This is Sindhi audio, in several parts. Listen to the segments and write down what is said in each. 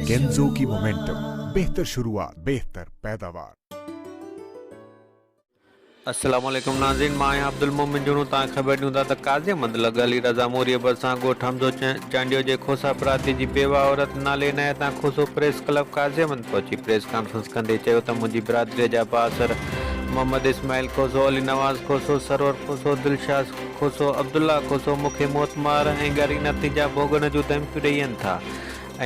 ڪينزو ڪي مومينٽم بهتر شروعات بهتر پيداوار. السلام عليڪم ناظرين مان آهيان عبدالمومن جوڻو توهان کي خبر ڏيون ٿا ته قاضي احمد لڳ علي رضا موريء ڀرسان ڳوٺ حمزو چانڊيو جي کوسا پراتي جي بيواهه عورت نالي عنايت تان کوسو پريس ڪلب قاضي احمد پهچي پريس ڪانفرنس ڪندي چيو ته منهنجي برادريء جا بااثر محمد اسماعيل کوسو، علي نواز کوسو، سرور کوسو، دلشاد. کوسو عبدالله کوسو مون کي موتمار ۽ ڳري نتيجا ڀوڳڻ جون ڌمڪيون ڏيئن ٿا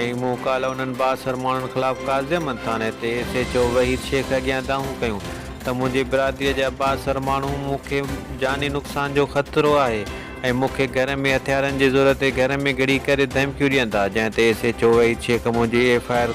۽ مون ڪالهه انهن بااثر ماڻهن خلاف قاضيامن ٿاڻي تي S H O Waheed Shaikh اڳيان دانهون ڪيون ته منهنجي برادري جا بااثر ماڻهو مون کي جاني نقصان جو خطرو آهي ۽ مون کي گهر ۾ هٿيارن جي زور تي گهر ۾ گهڙي ڪري ڌمڪيون ڏين ٿا جنهن تي S H O Waheed Shaikh منهنجي ايف آء آر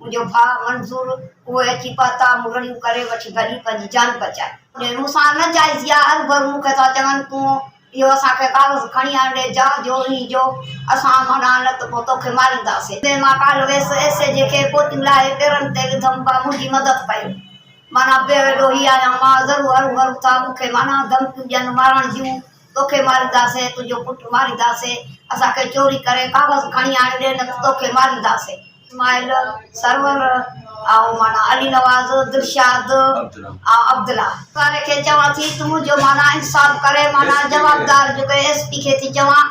منهنجو ڀاء منظور اهي اچي پتا مڙهڙيون ڪري وٺي ڀڄي پنهنجي جان بچائي. جي مون سان نه جائزي آ هرگهر مون کي ٿا چون تون اهو اسان کي ڪاغذ کڻي آڻ ڏي جا جو انهي جو اسان منا نه ته پوء تو کي مارينداسين. تنهن مان ڪالهه ويس ايس اي جي کي پوتيون لاهي پيرن تي وڌم ڀاء منهنجي مدد ڪيو منا بيوي ڏوهي آهيان مان ضرور هرون هرون ٿا مون کي منا ڌمڪيون ڏين مارڻ جون. توکي مارينداسين تنهنجو پٽ مارينداسين اسان کي چوري ڪري ڪاغذ کڻي آڻي ڏي نه ته توکي مارينداسين اسماعيل سرور ۽ معنيٰ علي نواز دلشاد ۽ عبدالله واري کي چوان ٿي تون منهنجو معنيٰ انصاف ڪري معنيٰ جوابدار جيڪو ايس پي کي ٿي چوان